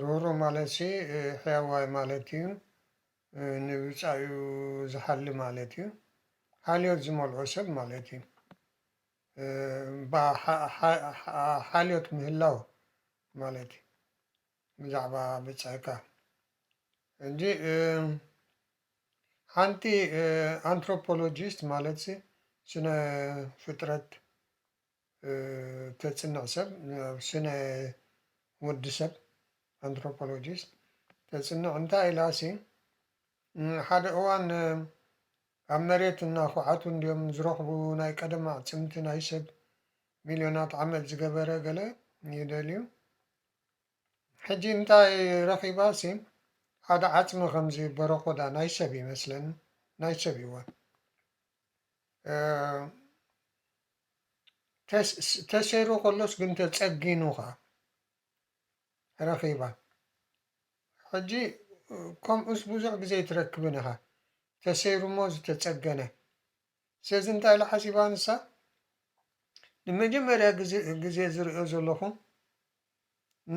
ርህሩህ ማለትሲ ሕያዋይ ማለት እዩ፣ ንብጻዩ ዝሓሊ ማለት እዩ፣ ሓልዮት ዝመልኦ ሰብ ማለት እዩ። እባ ሓልዮት ምህላው ማለት እዩ ብዛዕባ ብጻይካ። ሕጂ ሓንቲ ኣንትሮፖሎጂስት ማለትሲ ስነ ፍጥረት ተጽንዕ ሰብ ናብ ስነ ወዲ ሰብ Anthropologist ተጽንዕ እንታይ ኢላሲ ሓደ እዋን ኣብ መሬት እናኹዓቱ እንድዮም ዝረኽቡ ናይ ቀደም ኣዕጽምቲ ናይ ሰብ ሚልዮናት ዓመት ዝገበረ ገለ ይደልዩ ሕጂ እንታይ ረኺባሲ ሓደ ዓጽሚ ከምዚ በረኮዳ ናይ ሰብ ይመስለኒ ናይ ሰብ ይወን ተሰይሩ ከሎስ ግን ተጸጊኑኻ ረኺባ ሕጂ ከምኡስ ብዙሕ ግዜ ኣይትረክብን ኢኻ ተሰይሩ እሞ ዝተጸገነ ስለዚ እንታይ ኢላ ሓሲባ ንሳ ንመጀመርያ ግዜ ዝሪኦ ዘለኹ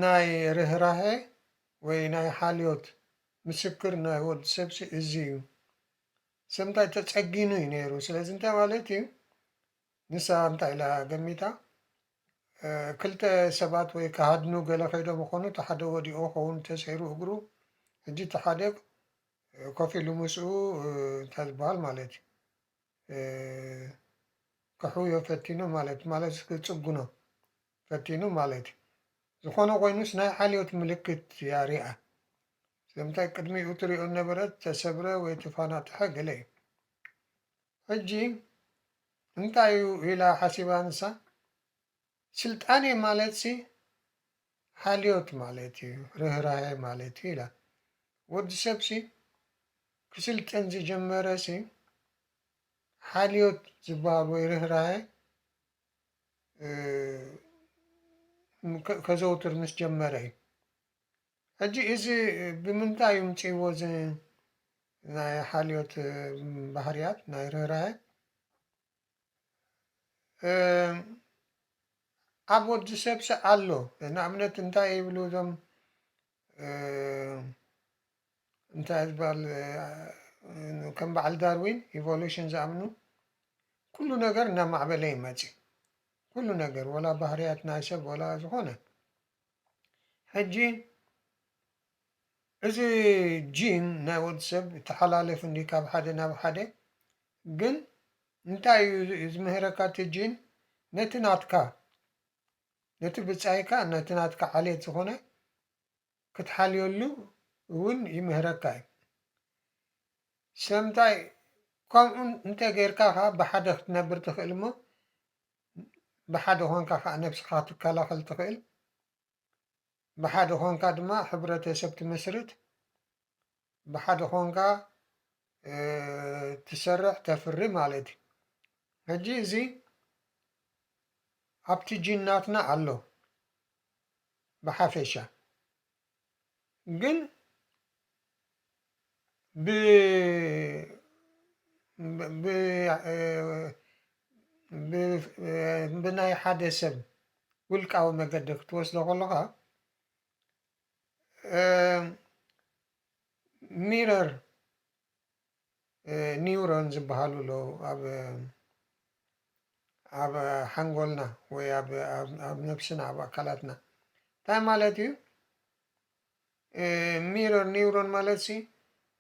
ናይ ርህራሄ ወይ ናይ ሓልዮት ምስክር ናይ ወዲ ሰብሲ እዚ እዩ ሰምታይ ተጸጊኑ እዩ ነይሩ ስለዚ እንታይ ማለት እዩ ንሳ እንታይ ኢላ ገሚታ ክልተ ሰባት ወይ ክሃድኑ ገለ ከይዶም ይኾኑ እቲ ሓደ ወዲቑ ይኸውን ተሰይሩ እግሩ ሕጂ እቲ ሓደ ኮፍ ኢሉ ምስኡ እንታይ ዝበሃል ማለት እዩ ክሕውዮ ፈቲኑ ማለት ማለት ክጽጉኖ ፈቲኑ ማለት እዩ ዝኾነ ኮይኑስ ናይ ዓልዮት ምልክት እያ ሪኣ ስለምንታይ ቅድሚኡ ትሪኦ እነበረት ተሰብረ ወይ ተፋናጥሐ ገለ እዩ ሕጂ እንታይ እዩ ኢላ ሓሲባ ንሳ ስልጣኔ ማለትሲ ሓልዮት ማለት እዩ ርህራሄ ማለት እዩ ኢላ ወዲ ሰብሲ ክስልጥን ዝጀመረሲ ሓልዮት ዝበሃል ወይ ርህራሄ ከዘውትር ምስ ጀመረ እዩ ሕጂ እዚ ብምንታይ እምጺእዎ እዚ ናይ ሓልዮት ባህርያት ናይ ርህራሄ ኣብ ወዲ ሰብሲ ኣሎ ንኣብነት እንታይ ይብሉ እዞም እንታይ ዝባል ከም በዓል ዳርዊን ኢቮሉሽን ዝኣምኑ ኩሉ ነገር እናማዕበለ ይመጽእ ኩሉ ነገር ወላ ባህርያት ናይ ሰብ ወላ ዝኾነ ሕጂ እዚ ጂን ናይ ወዲ ሰብ ይተሓላለፍ እንድዩ ካብ ሓደ ናብ ሓደ ግን እንታይ እዩ ዝምህረካ እቲ ጂን ነቲ ናትካ ነቲ ብጻይካ ነቲ ናትካ ዓሌት ዝኾነ ክትሓልየሉ እውን ይምህረካ እዩ ሰምታይ ከምኡ እንተ ጌርካ ኸኣ ብሓደ ክትነብር ትኽእል እሞ ብሓደ ኮንካ ካኣ ነብስካ ክትከላከል ትክእል ብሓደ ኮንካ ድማ ሕብረተሰብ ትምስርት ብሓደ ኮንካ ትሰርሕ ተፍሪ ማለት እዩ ሕጂ እዚ ኣብቲ ጂን ናትና ኣሎ ብሓፈሻ። ግን ብ ብ ብናይ ሓደ ሰብ ውልቃዊ መገዲ ክትወስዶ ከለኻ ሚረር ኒውሮን ዝበሃሉ ኣለዉ ኣብ ኣብ ሓንጎልና ወይ ኣብ ኣብ ነብስና ኣብ ኣካላትና እንታይ ማለት እዩ ሚሮን ኒውሮን ማለት ሲ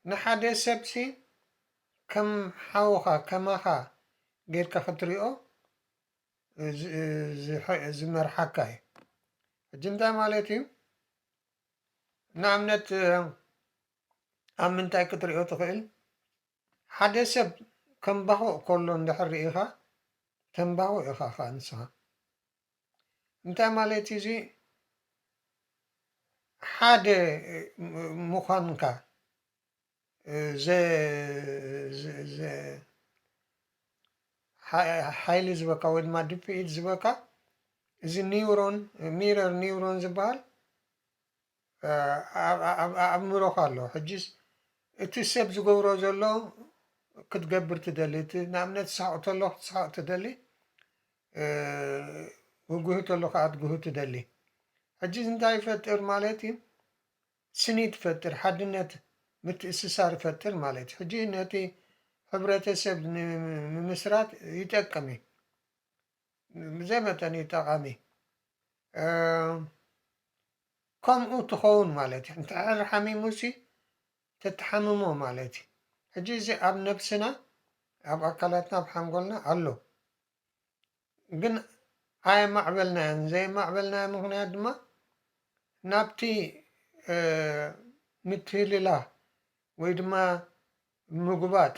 ንሓደ ሰብ ሲ ከም ሓውኻ ከማኻ ጌርካ ክትሪኦ ዝመርሓካ እዩ ሕጂ እንታይ ማለት እዩ ንኣብነት ኣብ ምንታይ ክትሪኦ ትኽእል? ሓደ ሰብ ከምባኹእ ከሎ እንድሕር ርኢኻ ተምባኹእ ኢኻ ከኣ ንስኻ። እንታይ ማለት እዩ እዚ? ሓደ ምዃንካ ሓይሊ ዝበካ ወይ ድማ ድፍኢት ዝበካ እዚ ኒውሮን ሚረር ኒውሮን ዝበሃል ኣብ ኣኣምሮኻ ኣሎ ሕጂስ እቲ ሰብ ዝገብሮ ዘሎ ክትገብር ትደሊ እቲ ንኣብነት ሳሕቕ ተሎ ክትስሕቕ ትደሊ ግጉሂ ተሎ ከኣ ክትጉሂ ትደሊ ሕጂ እዚ እንታይ ይፈጥር ማለት እዩ ስኒት ይፈጥር ሓድነት ምትእስሳር ይፈጥር ማለት እዩ ሕጂ ነቲ ሕብረተሰብ ንምምስራት ይጠቅም እዩ ብዘይ መጠን እዩ ጠቓሚ። ከምኡ ትኸውን ማለት እዩ። እንተሕር ሓሚሙሲ ተትሓምሞ ማለት እዩ። ሕጂ እዚ ኣብ ነብስና ኣብ ኣካላትና ኣብ ሓንጎልና ኣሎ ግን ኣየማዕበልናዮን ዘየማዕበልናዮ ምክንያት ድማ ናብቲ ምትህልላ ወይ ድማ ምጉባጥ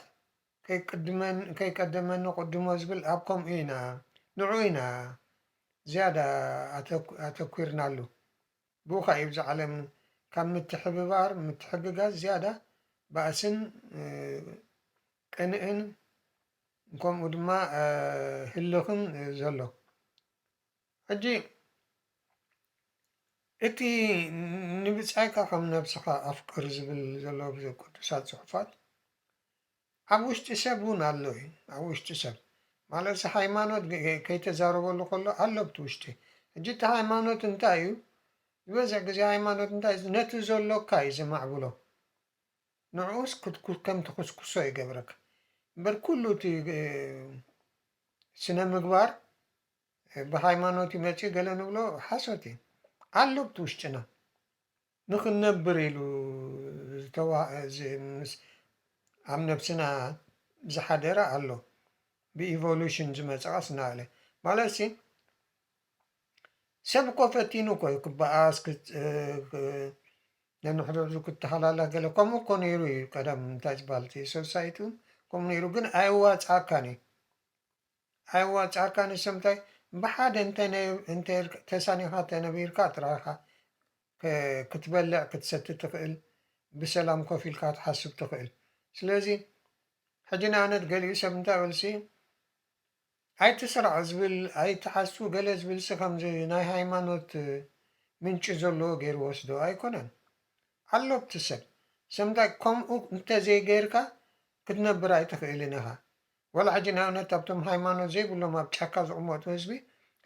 ከይቅድመኒ ከይቀደመኒ ቅድሞ ዝብል ኣብ ከምኡ ኢና ንዑኡ ኢና ዝያዳ ኣተኲርናሉ ብኡካ እዩ እብዚ ዓለም ካብ ምትሕብባር ምትሕግጋዝ ዝያዳ ባእስን ቅንእን ከምኡ ድማ ህልኽን ዘሎ ሕጂ እቲ ንብጻይካ ከም ነብስኻ ኣፍቅር ዝብል ዘሎ ኣብ ቅዱሳት ጽሑፋት ኣብ ውሽጢ ሰብ እውን ኣሎ እዩ ኣብ ውሽጢ ሰብ ማለት እዚ ሃይማኖት ከይተዛረበሉ ከሎ ኣሎ ኣብቲ ውሽጢ ሕጂ እቲ ሃይማኖት እንታይ እዩ ዝበዝሕ ግዜ ሃይማኖት እንታይ እዩ ነቲ ዘሎካ እዩ ዘማዕብሎ ንዕኡስ ከም ትኹስኩሶ ይገብረካ እምበር ኩሉ እቲ ስነ ምግባር ብሃይማኖት እዩ መጺኡ ገለ ንብሎ ሓሶት እዩ ኣሎ ኣብቲ ውሽጥና ንኽንነብር ኢሉ ምስ ኣብ ነብስና ዝሓደረ ኣሎ ብኢቮሉሽን ዝመጸ ቀስ እናበለ ማለትሲ ሰብ እኮ ፈቲኑ እኮ እዩ ክበኣስ ነንሕድሕዱ ክተሃላላኽ ገለ ከምኡ እኮ ነይሩ እዩ ቀደም እንታይ ዝበሃል እቲ ሶሳይቱ ከምኡ ነይሩ ግን ኣየዋጽኣካን እዩ ኣየዋ ጫካ ንሰምታይ ብሓደ እንተ እንተ ኢልካ ተሳኒኻ ተነቢርካ ጥራይ ኢኻ ክትበልዕ ክትሰቲ ትኽእል ብሰላም ኮፍ ኢልካ ክትሓስብ ትኽእል ስለዚ ሕጂ ንኣብነት ገሊኡ ሰብ እንታይ በልሲ ኣይትስራዕ ዝብል ኣይትሓሱ ገለ ዝብልሲ ከምዚ ናይ ሃይማኖት ምንጪ ዘለዎ ገይሩ ወስዶ ኣይኮነን ኣሎ ኣብቲ ሰብ ሰምታይ ከምኡ እንተ ዘይገይርካ ክትነብር ኣይትኽእልን ኢኻ ዋላ ሕጂ ንኣብነት ኣብቶም ሃይማኖት ዘይብሎም ኣብ ጫካ ዝቕመጡ ህዝቢ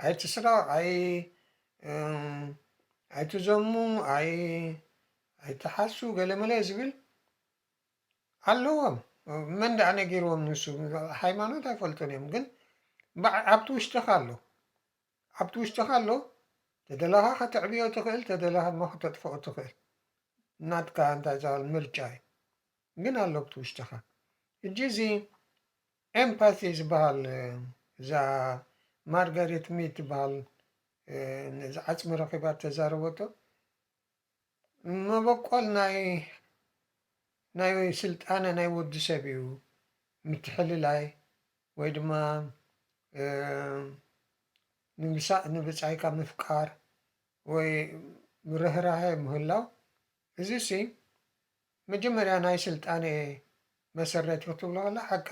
ኣይትስረቕ ኣይ ኣይትዘሙ ኣይ ኣይትሓሱ ገለመለ ዝብል ኣለዎም መን ደኣ ነጊርዎም ንሱ ሃይማኖት ኣይፈልጡን እዮም ግን ኣብቲ ውሽጥኻ ኣሎ ኣብቲ ውሽጥኻ ኣሎ ተደላኻ ከተዕብዮ ትኽእል ተደላኻ ድማ ከተጥፍኦ ትኽእል ናትካ እንታይ ዝበሃል ምርጫ እዩ ግን ኣሎ ኣብቲ ውሽጥኻ ሕጂ እዚ ኤምፓቲ ዝባሃል እዛ ማርጋሬት ሚድ ትባሃል ነዚ ዓጽሚ ረኺባ እተዛረበቶ መበቆል ናይ ናይ ስልጣነ ናይ ወዲ ሰብ እዩ ምትሕልላይ ወይ ድማ ንምሳእ ንብጻይካ ምፍቃር ወይ ርህራሀ ምህላው እዚ ሲ መጀመርያ ናይ ስልጣነ መሰረት ኢዩ ክትብሎ ከላ ሓቃ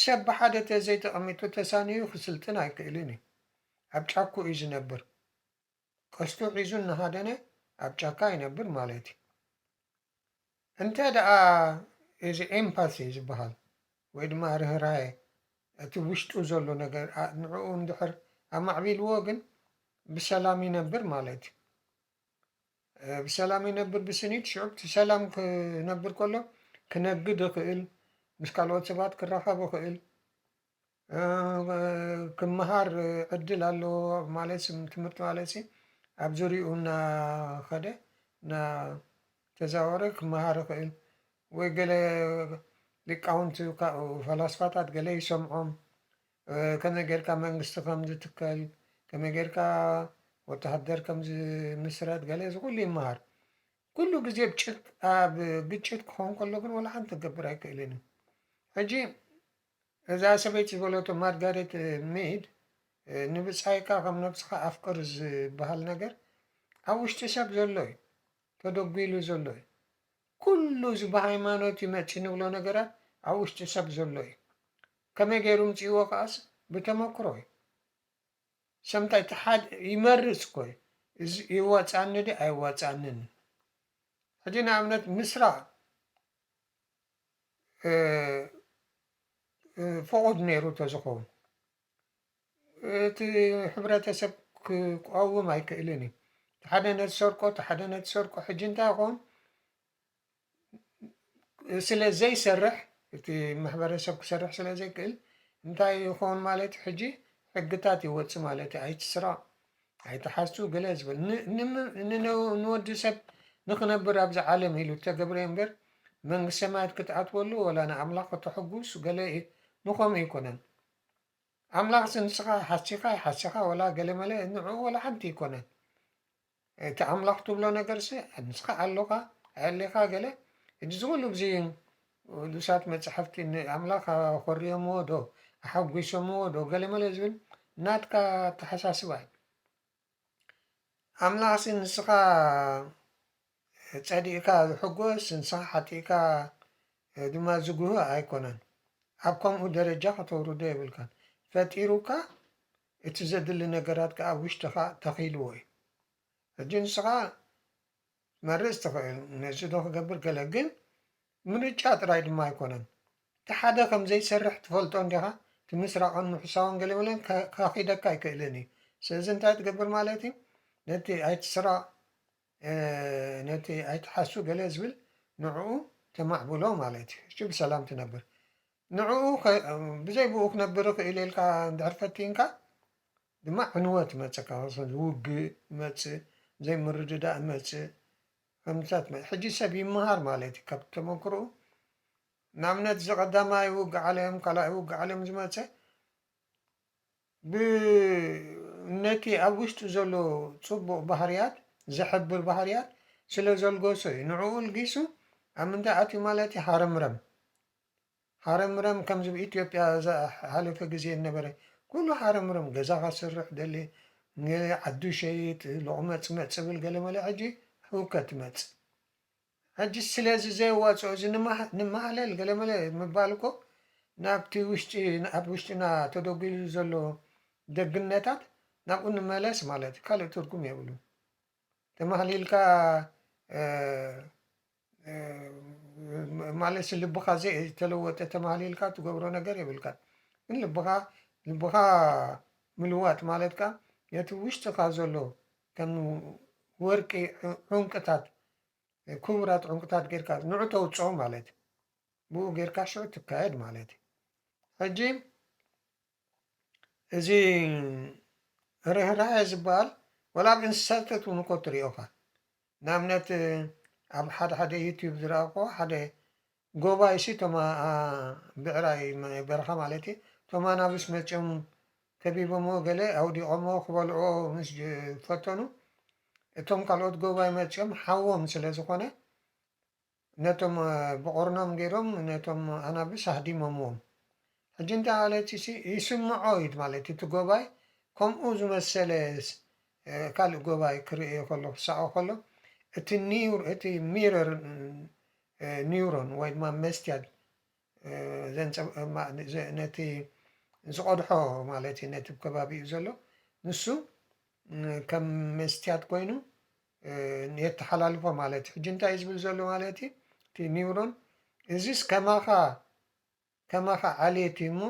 ሰብ ብሓደ ተዘይ ተቀሚጡ ተሳንዩ ክስልጥን ኣይክእልን ኢዩ ኣብ ጫኩ ኢዩ ዝነብር ቀስቱ ሒዙ እናሃደነ ኣብ ጫካ ይነብር ማለት ኢዩ እንተ ደኣ እዚ ኤምፓሲ ዝብሃል ወይ ድማ ርህራሄ እቲ ውሽጡ ዘሎ ነገር ንዕኡ እንድሕር ኣማዕቢልዎ ግን ብሰላም ይነብር ማለት ኢዩ። ብሰላም ይነብር ብስኒት ሽዑ ብሰላም ክነብር ከሎ ክነግድ ይኽእል ምስ ካልኦት ሰባት ክራኸብ ይኽእል ክመሃር ዕድል ኣለዎ ማለት ትምህርቲ ማለት ሲ ኣብ ዙሪኡ እናኸደ እናተዛወረ ክመሃር ይኽእል ወይ ገለ ሊቃውንቲ ፈላስፋታት ገለ ይሰምዖም ከመይ ጌርካ መንግስቲ ከም ዝትከል፣ ከመይ ጌርካ ወተሃደር ከም ዝምስረት ገለ እዚ ኩሉ ይመሃር። ኩሉ ግዜ ኣብ ግጭት ክኸውን ከሎ ግን ዋላ ሓንቲ ክገብር ኣይክእልን እዩ። ሕጂ እዛ ሰበይቲ ዝበለቶ ማርጋሬት ሚድ ንብጻይካ ከም ነብስኻ ኣፍቅር ዝበሃል ነገር ኣብ ውሽጢ ሰብ ዘሎ እዩ ተደጒሉ ዘሎ እዩ ኩሉ እዚ ብሃይማኖት ይመፅእ ንብሎ ነገራት ኣብ ውሽጢ ሰብ ዘሎ እዩ ከመይ ገይሩ ምጺእዎ ከኣስ ብተመክሮ እዩ። ሰምታይ እቲ ሓድ ይመርጽ እኮ እዩ እዚ ይዋጻኣኒ ድዩ ኣይዋጻኣንን እዩ። ሕጂ ንኣብነት ምስራ ፍቑድ ነይሩ ተዝኸውን እቲ ሕብረተሰብ ክቋውም ኣይክእልን እዩ። እቲ ሓደ ነቲ ሰርቆ እቲ ሓደ ነቲ ሰርቆ ሕጂ እንታይ ይኸውን? ስለ ዘይሰርሕ እቲ ማሕበረሰብ ክሰርሕ ስለ ዘይክእል እንታይ እዩ ክኸውን ማለት እዩ ሕጂ ሕግታት ይወፅእ ማለት እዩ ኣይትስረቕ ኣይትሓሱ ገለ ዝብል ንወዲ ሰብ ንክነብር ኣብዚ ዓለም ኢሉ ተገብረ እምበር መንግስቲ ሰማያት ክትኣትወሉ ወላ ንኣምላኽ ከተሕጉስ ገለ እዩ ንኸምኡ ኣይኮነን ኣምላኽ ንስኻ ሓሲኻ ይሓሲኻ ወላ ገለመለ ንዕኡ ወላ ሓንቲ ኣይኮነን እቲ ኣምላኽ ትብሎ ነገርሲ ምስካ ኣሎካ ኣየሌካ ገለ ሕጂ እዚ ኩሉ ብዚ ቁዱሳት መጻሕፍቲ ን ኣምላኽ ኣኾርዮምዎ ዶ ኣሓጎሶምዎ ዶ ገለመለ ዝብል ናትካ ኣተሓሳስባ እዩ ኣምላኽሲ ንስካ ጸዲቅካ ዝሕጎስ ንስካ ሓጢእካ ድማ ዝጉህይ ኣይኮነን ኣብ ከምኡ ደረጃ ከተውርዶ የብልካን ፈጢሩካ እቲ ዘድሊ ነገራት ከኣ ኣብ ውሽጥኻ ተኺልዎ እዩ። ሕጂ ንስኻ ክትመርጽ ትኽእል፣ ነዚዶ ክገብር ገለ። ግን ምርጫ ጥራይ ድማ ኣይኮነን። እቲ ሓደ ከም ዘይሰርሕ ትፈልጦ እንዲኻ፣ እቲ ምስራቕን ምሕሳውን ገለመለን ከኺደካ ኣይክእልን እዩ። ስለዚ እንታይ ትገብር ማለት እዩ? ነቲ ኣይትስረቕ ነቲ ኣይትሓሱ ገለ ዝብል ንዕኡ ተማዕብሎ ማለት እዩ። እሺ ብሰላም ትነብር ንዕኡ ብዘይ ብኡ ክነብር ይኽእል እየ ኢልካ እንድሕር ፈቲንካ ድማ ዕንወት ይመጸካ ውግእ ይመጽእ ዘይምርድዳእ ይመጽእ ከምታት ሕጂ ሰብ ይመሃር ማለት እዩ ካብ ተመክሮኡ ንኣብነት እዚ ቀዳማይ ውግእ ዓለም ካልኣይ ውግእ ዓለም ዝመጸ ብ ነቲ ኣብ ውሽጡ ዘሎ ጽቡቕ ባህርያት ዘሕብር ባህርያት ስለ ዘልገሶ እዩ። ንዕኡ ኣልጊሱ ኣብ ምንታይ ኣትዩ ማለት እዩ ሃረምረም ሃረምረም ከምዚ ብ ኢትዮጵያ ዝሓለፈ ግዜ ዝነበረ ኩሉ ሃረምረም ገዛ ከስርሕ ደሌ ዓዱ ይሸይጥ ሎቕመጽመጽ ዝብል ገለመለ ሕጂ ህውከት ይመጽእ። ሕጂ ስለዚ ዘይዋጽኦ እዚ ንማህለል ገለመለ ምባል እኮ ናብቲ ውሽጢ ኣብ ውሽጥና ተደጉሉ ዘሎ ደግነታት ናብኡ ንመለስ ማለት እዩ ካልእ ትርጉም የብሉን ተማህሊልካ ማለት ልብኻ ዘይተለወጠ ተማህሊልካ ትገብሮ ነገር የብልካ ግን ልብኻ ልብኻ ምልዋጥ ማለት ከዓ ነቲ ውሽጥኻ ዘሎ ከም ወርቂ ዑንቅታት ኩቡራት ዑንቅታት ጌርካ ንዑ ተውጽኦ ማለት እዩ ብኡ ጌርካ ሽዑ ትካየድ ማለት እዩ ሕጂ እዚ ርህራሄ ዝበሃል ወላ ኣብ እንስሳታት እውን እኮ ትሪኦ ኢኻ ንኣብነት ኣብ ሓደ ሓደ ዩቱብ ዝረኣኹዎ ሓደ ጎባይ እሲ እቶም ኣ ብዕራይ ናይ በረኻ ማለት እየ እቶም ኣናብስ መፅዮም ከቢቦምዎ ገለ ኣውዲቆምዎ ክበልዕዎ ምስ ፈተኑ እቶም ካልኦት ጎባይ መፅዮም ሓዎም ስለ ዝኾነ ነቶም ብቑርኖም ገይሮም ነቶም ኣናብስ ኣህዲሞምዎም ሕጂ እንተ ሃለቲሲ ይስምዖ እዩ ማለት እዩ እቲ ጎባይ ከምኡ ዝመሰለ ካልእ ጎባይ ክርእዮ ከሎ ክሳኦ ከሎ እቲ ኒውር እቲ ሚረር ኒውሮን ወይ ድማ መስትያት ነቲ ዝቆድሖ ማለት እዩ ነቲ ከባቢኡ ዘሎ ንሱ ከም መስትያት ኮይኑ የተሓላልፎ ማለት እዩ ሕጂ እንታይ እዩ ዝብል ዘሎ ማለት እዩ እቲ ኒውሮን እዚስ ከማኻ ከማኻ ዓሌት እዩሞ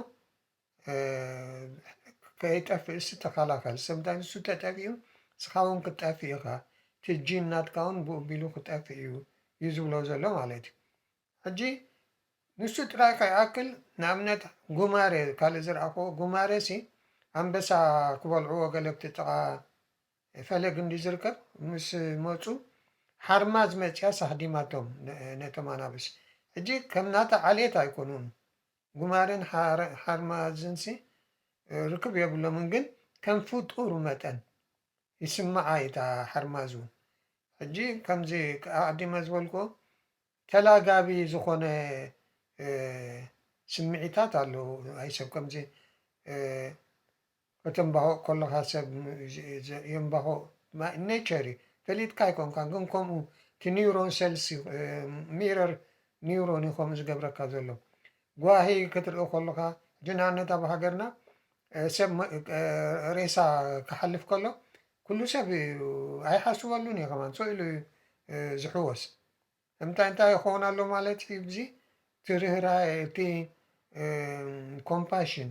ከይጠፍእሲ ተኸላኸል ሰምታይ ንሱ ተጠፊኡ ንስኻውን ክትጠፍእ ኢኻ እቲ ጂን ናትካውን ብኡ ኣቢሉ ክጠፍእ እዩ እዩ ዝብሎ ዘሎ ማለት እዩ ሕጂ ንሱ ጥራይ ከይኣክል ንኣብነት ጉማረ ካልእ ዝረኣኽዎ ጉማረሲ ኣንበሳ ክበልዕዎ ገለ ኣብቲ ጥቓ ናይ ፈለግ እንድዩ ዝርከብ ምስ መጹ ሓርማዝ መጽያስ ኣህዲማቶም ነቶም ኣናብስ ሕጂ ከም ናታ ዓልየት ኣይኮኑን ጉማረን ሓርማዝንሲ ርክብ የብሎምን ግን ከም ፍጡር መጠን ይስምዓ እዪ እታ ሓርማዝ ውን ሕጂ ከምዚ ኣቅዲመ ዝበልክዎ ተላጋቢ ዝኮነ ስሚዒታት ኣሎ ኣይ ሰብ ከምዚ ከተምባሆእ ኮሎካ ሰብ የምባሆ ኔቸር እዩ ፈሊጥካ ኣይኮንካን ግን ከምኡ እቲ ኒውሮን ሰልስ ሚረር ኒውሮን እዩ ከምኡ ዝገብረካ ዘሎ ጓሂ ክትርኢ ኮሎካ ሕጂ ንኣብነት ኣብ ሃገርና ሰብ ሬሳ ክሓልፍ ከሎ ኩሉ ሰብ ኣይሓስበሉን እዩ ከማን ሰኢሉ እዩ ዝሕወስ እንታይ እንታይ ይኸውን ኣሎ ማለት እዩ ብዚ እቲ ርህራሄ እቲ ኮምፓሽን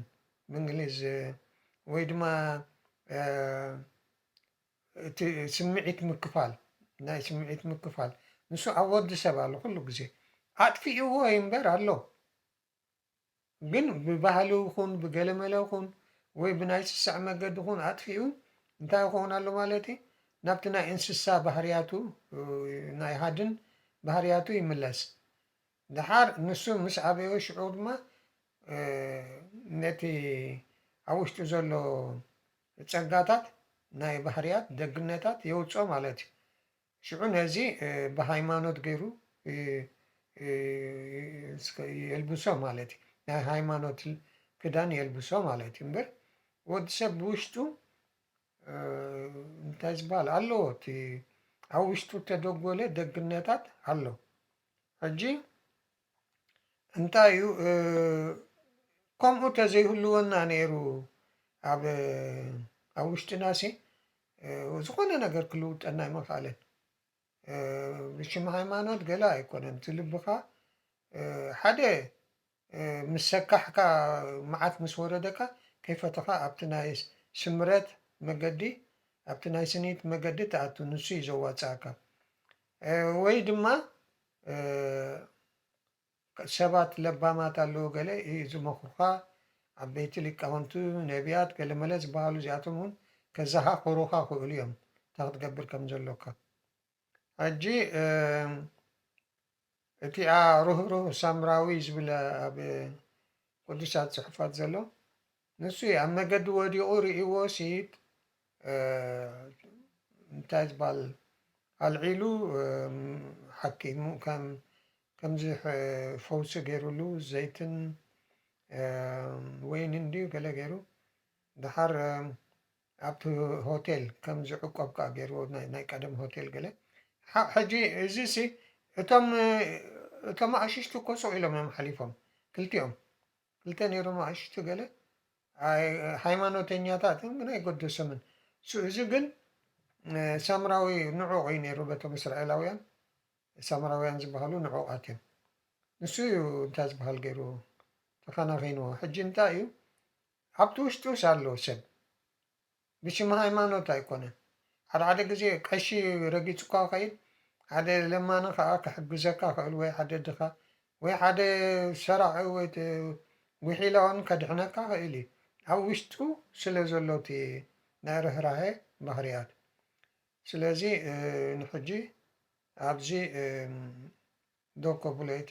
ብእንግሊዝ ወይ ድማ እቲ ስምዒት ምክፋል ናይ ስምዒት ምክፋል ንሱ ኣብ ወዲ ሰብ ኣሎ ኩሉ ግዜ ኣጥፊእዎ እዩ እምበር ኣሎ ግን ብባህሊ ኹን ብገለመለ ኹን ወይ ብናይ ስሰዐ መገዲ ኹን ኣጥፊኡ እንታይ ይኾን ኣሎ ማለት እዩ ናብቲ ናይ እንስሳ ባህርያቱ ናይ ሃድን ባህርያቱ ይምለስ ደሓር ንሱ ምስ ኣበዮ ሽዑ ድማ ነቲ ኣብ ውሽጡ ዘሎ ጸጋታት ናይ ባህርያት ደግነታት የውጽኦ ማለት እዩ ሽዑ ነዚ ብሃይማኖት ገይሩ የልብሶ ማለት እዩ ናይ ሃይማኖት ክዳን የልብሶ ማለት እዩ እምበር ወዲ ሰብ ብውሽጡ እንታይ ዝበሃል ኣለዎ እቲ ኣብ ውሽጡ ተደጎለ ደግነታት ኣሎ ሕጂ እንታይ እዩ ከምኡ ተዘይህልወና ነይሩ ኣብ ኣብ ውሽጥናሲ ዝኾነ ነገር ክልውጠና ኣይምኽኣለን። ብሽም ሃይማኖት ገለ ኣይኮነን እቲ ልብኻ ሓደ ምስ ሰካሕካ መዓት ምስ ወረደካ ከይፈተኻ ኣብቲ ናይ ስምረት መገዲ ኣብቲ ናይ ስኒት መገዲ ትኣቱ ንሱ እዩ ዘዋጽኣካ ወይ ድማ ሰባት ለባማት ኣለዉ ገለ ዝመኽሩኻ ዓበይቲ ሊቃውንቱ ነብያት ገለመለ ዝበሃሉ እዚኣቶም ውን ከዘኻኽሩኻ ክእሉ እዮም እንታይ ክትገብር ከም ዘሎካ ሕጂ እቲኣ ርህሩህ ሳምራዊ ዝብል ኣብ ቅዱሳት ጽሑፋት ዘሎ ንሱ እዩ ኣብ መገዲ ወዲቑ ርእይዎ ሲኢድ እንታይ ዝባል ኣልዒሉ ሓኪሙ ከም ከምዚ ፈውሲ ገይሩሉ ዘይትን ወይንን ድዩ ገለ ገይሩ ድሓር ኣብቲ ሆቴል ከም ዝዕቆብ ከዓ ገይርዎ ናይ ቀደም ሆቴል ገለ ሕጂ እዚ ሲ እቶም እቶም ኣሽሽቲ እኮ ሱቕ ኢሎም እዮም ሓሊፎም ክልቲኦም ክልተ ነይሮም ኣእሽቱ ገለ ሃይማኖተኛታት እዮም ግን ኣይገደሶምን እሱ እዚ ግን ሳምራዊ ንዑቕ እዩ ነይሩ በቶም እስራኤላውያን ሳምራውያን ዝበሃሉ ንዑቓት እዮም ንሱ እዩ እንታይ ዝበሃል ገይሩ ተኸናኺንዎ ሕጂ እንታይ እዩ ኣብቲ ውሽጡስ ኣሎ ሰብ ብሽም ሃይማኖት ኣይኮነን ሓደሓደ ግዜ ቀሺ ረጊጹካ ይኸይድ ሓደ ለማኒ ከኣ ክሕግዘካ ይኽእል ወይ ሓደ ድኻ ወይ ሓደ ሰራቒ ወይ ጉሒላ ውን ከድሕነካ ይኽእል እዩ ኣብ ውሽጡ ስለ ዘሎ እቲ ናይ ርህራሄ ባህርያት ስለዚ ንሕጂ ኣብዚ ዶ ከብሎ እቲ